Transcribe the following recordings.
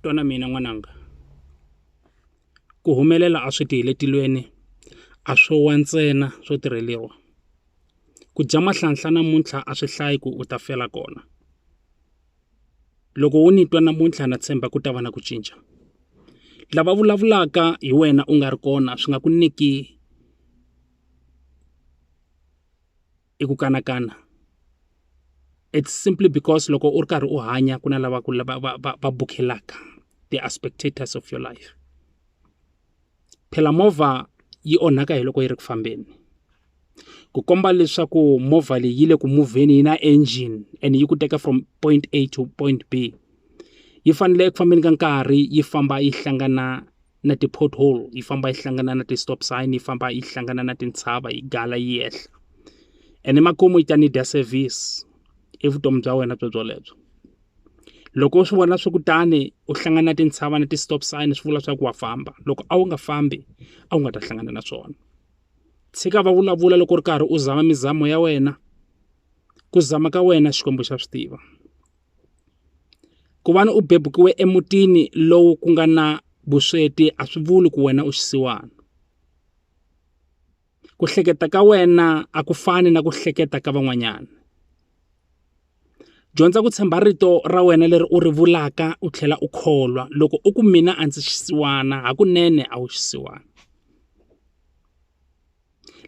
twa na mina n'wananga ku humelela a swi ti hi le tilweni a swo wa ntsena swo tirheliwa ku dya mahlanhla namuntlha a swi hlayi ku u ta fela kona loko wo ni twa namuntlha na tshemba ku ta va na ku cinca lava vulavulaka hi wena u nga ri kona swi nga ku nyiki i ku kanakana it's simply because loko u ri karhi u hanya ku na lava ku va va va va bukhelaka they are spectators of your life phela movha yi onhaka hi loko yi ri ku fambeni ku komba leswaku movha leyi yi le ku muvheni yi na engine and yi ku teka from point a to point b yi fanele eku fambeni ka nkarhi yi famba yi hlangana na ti-pothole yi famba yi hlangana na ti-stop sign yi famba yi hlangana na tintshava yi gala yi yehla ene makumu yi ta ni dya service i vutomi bya wena byo byolebyo loko u swi vona swi kutani u hlangana na tintshava na ti-stop sign swi vula swa ku wa famba loko a wu nga fambi a wu nga ta hlangana na swona tshika va vulavula loko u ri karhi u zama mizamo ya wena ku zama ka wena xikwembu xa swi tiva Ku va ni u bebukiwe emutini lowu ku nga na vusweti a swi vuli ku wena u xisiwana ku hleketa ka wena a ku fani na ku hleketa ka van'wanyana dyondza ku tshemba rito ra wena leri u ri vulaka u tlhela u kholwa loko u ku mina a ndzi xisiwana hakunene a wu xisiwana.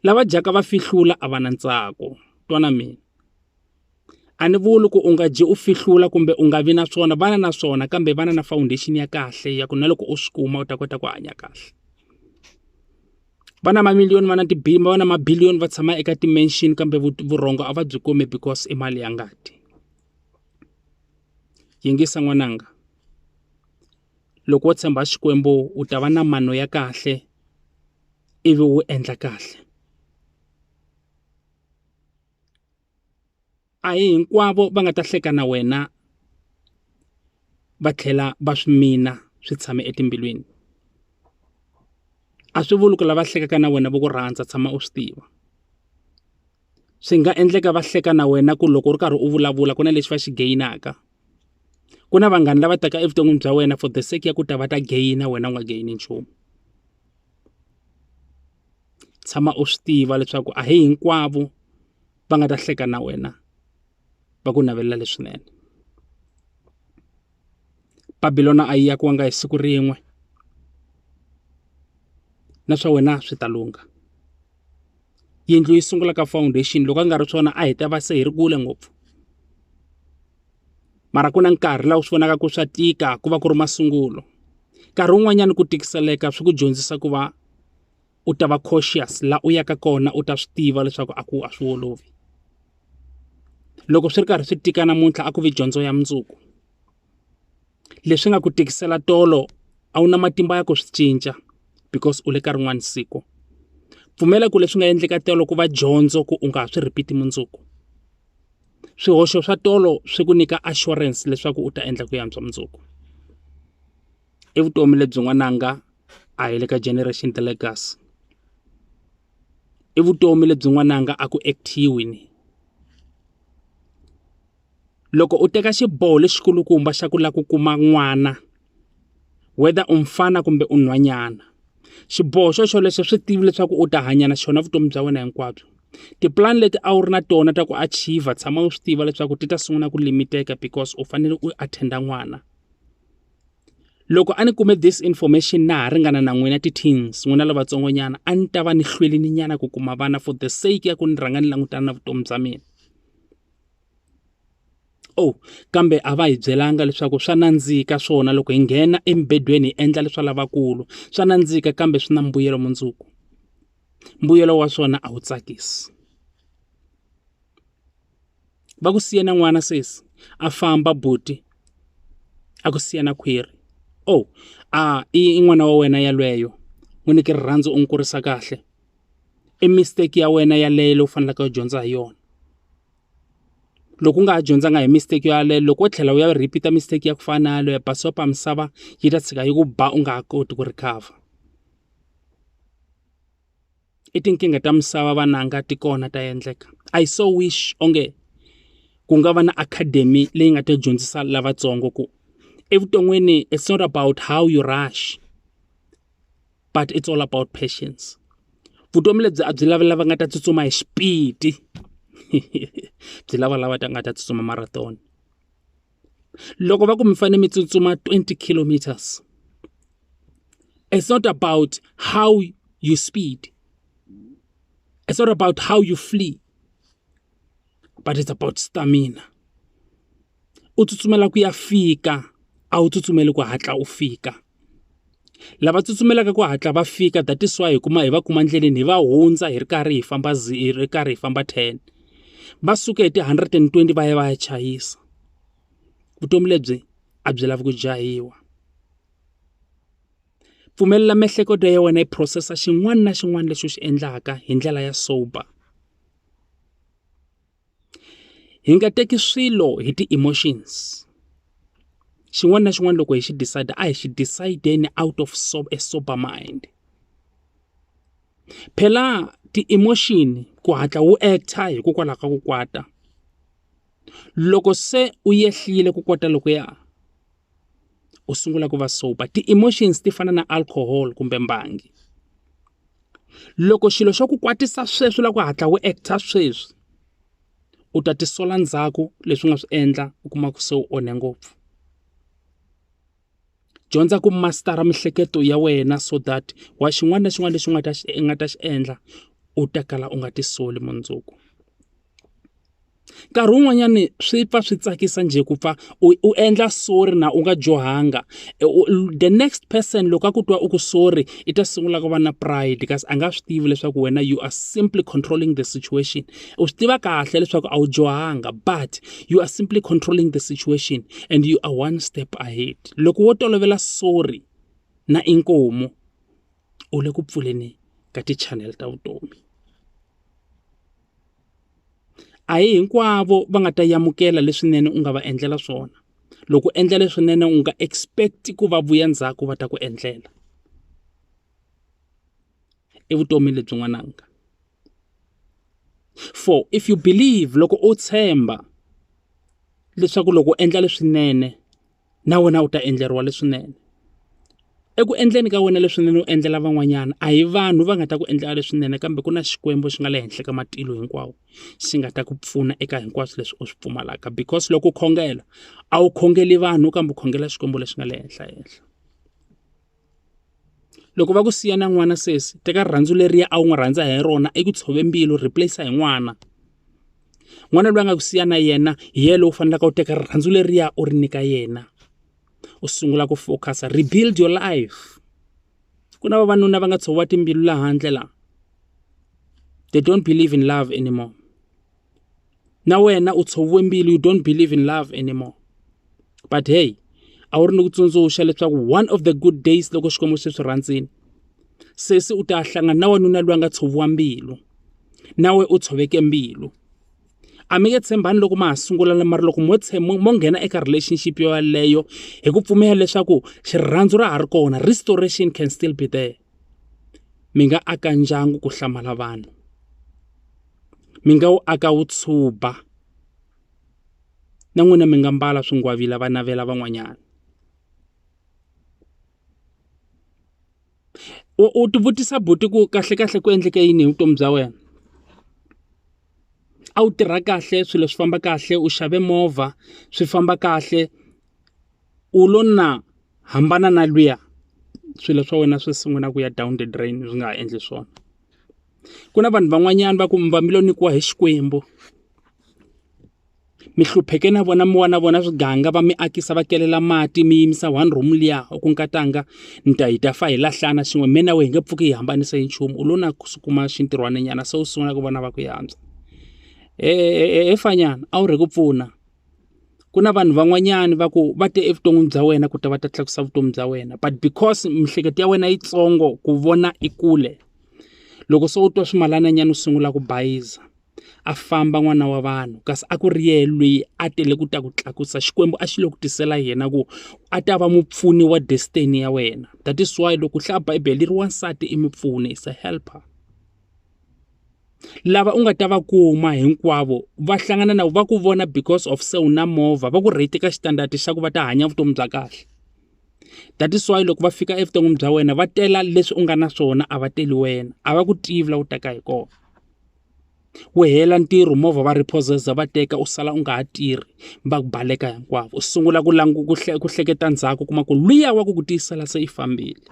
lava dyaka va fihlula a va na ntsako twa na mina a ni vuli ku u nga dyi u fihlula kumbe u nga vi na swona vana na swona kambe vana na foundation ya kahle ya ku na loko u swi kuma u ta kota ku hanya kahle va na mamiliyoni va na va na mabiliyoni va tshama eka ti-mansion kambe vurhongo a va byi kumi because i mali ya ngati yingisa n'wananga. loko wo tshemba Xikwembu u ta va na mano ya kahle ivi u endla kahle a hi hinkwavo va nga ta hleka na wena va tlhela va swi mina swi tshame etimbilwini a swi vuli ku lava hlekaka na wena va ku rhandza tshama u swi tiva. swi nga endleka va hleka na wena ku loko u ri karhi u vulavula ku na lexi va xi gain-aka ku na vanghana lava taka evuton'wini bya wena for the sake ya ku ta va ta gain-a wena u nga gain-i nchumu tshama u swi tiva leswaku a hi hinkwavo va nga ta hleka na wena. va ku navelela leswinene. Babilona a yi akiwanga hi siku rin'we, na swa wena swi ta lungha. Yindlu yi sungula ka foundation loko a nga ri swona a hi ta va se hi ri kule ngopfu. Mara ku na nkarhi laha u swi vonaka ku swa tika ku va ku ri masungulo. Nkarhi wun'wanyana ku tikiseleka swi ku dyondzisa ku va. u ta va cautious laha u yaka kona u ta swi tiva leswaku a ku a swi olovi loko swi ri karhi swi tika namuntlha a ku vi dyondzo ya mundzuku leswi nga ku tikisela tolo a wu na matimba ya ku swi cinca because u le ka rin'wani siku pfumela ku leswi nga endleka tolo ku va dyondzo ku u nga ha swi repeat mundzuku swihoxo swa tolo swi ku nyika assurance leswaku u ta endla ku yantswa mundzuku i vutomi lebyin'wananga. a hi le ka generation the legacy i vutomi lebyi n'wananga a ku actor-iwi loko u teka xiboho lexi kulukumba xa ku lava ku kuma n'wana whether u mufana kumbe u nhwanyana xiboho xo xolexo swi tivi leswaku u ta hanya na xona vutomi bya wena hinkwabyo tipulani leti a wu ri na tona ta ku achiever tshama u swi tiva leswaku ti ta sungula ku limiteka because u fanele u attend-a n'wana. loko a ni kume this information na ha ringana na n'wina ti-teens n'wina lavatsongonyana a ni ta va ni hlwelini nyana ku kuma vana for the sake ya ku ni rhanga ni langutana na vutomi bya mina oh kambe a va hi byelanga leswaku swa nandzika swona loko hi nghena embedweni hi endla leswa lavakulu swa nandzika kambe swi na mbuyelo mundzuku mbuyelo wa swona a wu tsakisi va ku siya na n'wana sesi a famba buti a ku siya na khwiri oh a i n'wana wa wena yalweyo n'wi nyike rirhandzu u n'wi kurisa kahle i mistake ya wena yaleyo leyi u faneleke u dyondza hi yona loko u nga ha dyondzanga hi mistake yaleyo loko wo tlhela u ya repeat mistake ya ku fana na yaleyo basopa misava yi ta tshika yi ku ba u nga ha koti ku recover i tinkingha ta misava vananga ti kona ta endleka I so wish onge ku nga va na academy leyi nga ta dyondzisa lavatsongo ku evuton'wini it's not about how you rush but it's all about patience vutomi lebyi a byi lavi lava nga ta tsutsuma hi xipidi byi lava lava ta nga ta tsutsuma marathon. loko va ku mi fanele mi tsutsuma 20 kilometers it's not about how you speed it's not about how you flee but it's about stamina u tsutsumela ku ya fika a wu tsutsumeli ku hatla u fika lava tsutsumelaka ku hatla va fika that is why hi kuma hi va kuma endleleni hi va hundza hi ri karhi hi famba hi ri karhi hi famba ten va suke hi ti-hundred and twenty va ya va ya chayisa vutomi lebyi a byi lavi ku jahiwa pfumelela miehleketo ya wena yi phurosesa xin'wana na xin'wana lexi u xi endlaka hi ndlela ya sober. hi nga teki swilo hi ti-emotions xin'wana na xin'wana loko hi xi decide a hi xi decide-eni out of a sober mind phela ti-emotion ku hatla wu act-a hikokwalaho ka ku kwata loko se u yehlile ku kwata lokuya. u sungula ku va sober ti-emotions ti fana na alcohol kumbe mbangi loko xilo xo ku kwatisa sweswi u lava ku hatla u act-a sweswi u ta tisola ndzhaku leswi u nga swi endla u kuma ku se u onhe ngopfu dyondza ku master-a miehleketo ya wena so that wa xin'wana na xin'wana lexi u nga ta xi u nga ta xi endla u ta kala u nga tisoli mundzuku. Nkarhi wun'wanyani swi pfa swi tsakisa njhe ku pfa u u endla sorry na u nga dyohanga the next person loko a ku twa u ku sorry i ta sungula ku va na pride kasi a nga swi tivi leswaku wena you are simply controlling the situation u swi tiva kahle leswaku a wu dyohanga but you are simply controlling the situation and you are one step ahead loko wo tolovela sorry na inkomu u le ku pfuleni ka ti-channel ta vutomi. a hi hinkwavo va nga ta amukela leswinene u nga va endlela swona loko u endla leswinene u nga expect ku va vuya ndzhaku va ta ku endlela i vutomi lebyi n'wananga for if you believe loko u tshemba leswaku loko u endla leswinene na wena u ta endleriwa leswinene. Eku endleni ka wena leswinene u endlela van'wanyana, a hi vanhu va nga ta ku endlela leswinene kambe ku na Xikwembu xi nga le henhla ka matilo hinkwawo, xi nga ta ku pfuna eka hinkwaswo leswi u swi pfumalaka. Because loko u khongela, a wu khongeli vanhu kambe u khongela Xikwembu lexi nga le henhla henhla. loko va ku siya na n'wana sesi teka rirhandzu leriya a wu n'wi rhandza hi rona i ku tshove mbilu replace hi n'wana n'wana loyi a nga ku siya na yena hi yena loyi u faneleke u teka rirhandzu leriya u ri nyika yena u sungula ku focus rebuild your life ku na vavanuna va nga tshoviwa timbilu laha handle la they don't believe in love anymore. na wena u tshoviwe mbilu you don't believe in love anymore but hey a wu ri ni ku tsundzuxa leswaku one of the good days loko xikwembu xi swi rhandzini sesi u ta hlangana na wanuna loyi a nga tshoviwa mbilu nawe u tshoveke mbilu a mi nge tshembani loko ma ha sungula na mara loko mo tshembo mo nghena eka relationship yo yaleyo hi ku pfumela leswaku xirhandzu ra ha ri kona restoration can still be there mi nga aka ndyangu ku hlamala vanhu mi nga wu aka wu tshuba na n'wina mi nga mbala swingwavila va navela van'wanyana u u ti vutisa buti ku kahlekahle ku endleke yini hi vutomi bya wena a wu tirha kahle swilo swi famba kahle u xave movha swi famba kahle u lo na hambana na luya swilo swa wena swi sungula ku ya down the drain swi nga ha endli swona. Ku na vanhu van'wanyana va ku mi va mi lo nyikiwa hi Xikwembu, mi hlupheke na vona mi wa na vona swiganga va mi akisa va kelela mati mi yimisa one room liya u ku nkatanga ni ta hi ta fa hi lahlana swin'we mina na wena hi nge pfuki hi hambanisa hi nchumu u lo na ku kuma xintirhwana nyana se u sungula ku vona va ku yantswa. He fanyana a wu rhe ku pfuna. ku na vanhu van'wanyana va ku va te evuton'wini bya wena ku ta va ta tlakusa vutomi bya wena but because miehleketo ya wena yitsongo ku vona i kule loko se u twa swimalananyana u sungula ku bayiza a famba n'wana wa vanhu kasi a ku ri yena loyi a tele ku ta ku tlakusa xikwembu a xi le ku tisela yena ku a ta va mupfuni wa destiny ya wena that is why loko u hlaya bibele ri wansati i mupfuni is a helper. lava u nga ta va kuma hinkwavo va hlangana na va ku vona because of se u na movha va ku rate ka standard xa ku va ta hanya vutomi bya kahle that is why loko va fika evuton'wini bya wena va tela leswi u nga na swona a va teli wena a va ku tivi la u taka hi kona wu hela ntirho movha va repossess va teka u sala u nga ha tirhi va ku baleka hinkwavo u sungula ku languta ku hleketa ndzhaku kuma ku luya wa ku ku tiyisela se i fambile.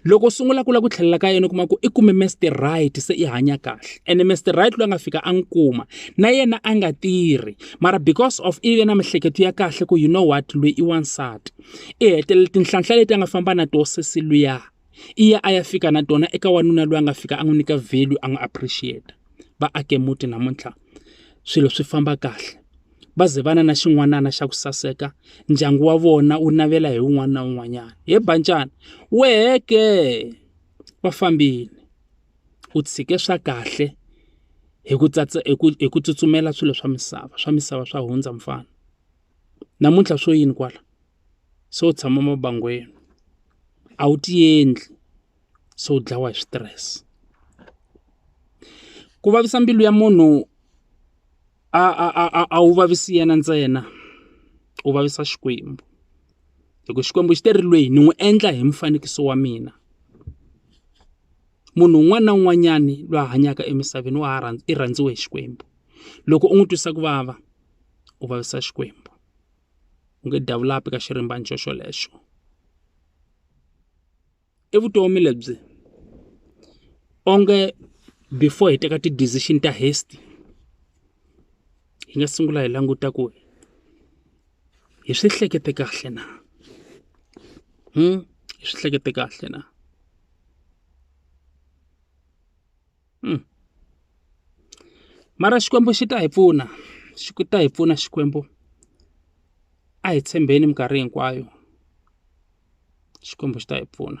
Loko u sungula ku lava ku tlhelela ka yena u kuma ku i kume Mister Right se i hanya kahle ene Mister Right loyi a nga fika a n'wi kuma na yena a nga tirhi mara because of i ve na miehleketo ya kahle ku you know what loyi i wansati i hetelela tinhlanhla leti a nga famba na tona sesi luya i ya a ya fika na tona eka wanuna loyi a nga fika a n'wi nyika value a n'wi appreciate va ake muti namuntlha swilo swi famba kahle. va ze va na na xin'wanana xa ku saseka ndyangu wa vona wu navela hi wun'wana na wun'wanyana he bancana wehe ke va fambini u tshike swa kahle hi ku tsatsa hi ku hi ku tsutsumela swilo swa misava swa misava swa hundza mfana namuntlha swo yini kwala se u tshama mabangwini a wu ti endli se u dlawa hi switirese ku vavisa mbilu ya munhu. a a a a a wu vavisi yena ntsena u vavisa Xikwembu hi ku Xikwembu xi te ri lweyi ni n'wi endla hi mufanikiso wa mina munhu un'wana na un'wanyani loyi a hanyaka emisaveni wa ha i rhandziwe hi Xikwembu loko u n'wi twisa ku vava u vavisa Xikwembu u nge davulapi ka xirimbana xo xolexo. i vutomi lebyi onge before hi teka ti-decision ta haste hi nga sungula hi languta ku hi swi hlekete kahle na hi swi hlekete kahle na. mara Xikwembu xi ta hi pfuna xi ta hi pfuna Xikwembu a hi tshembeni minkarhi hinkwayo Xikwembu xi ta hi pfuna.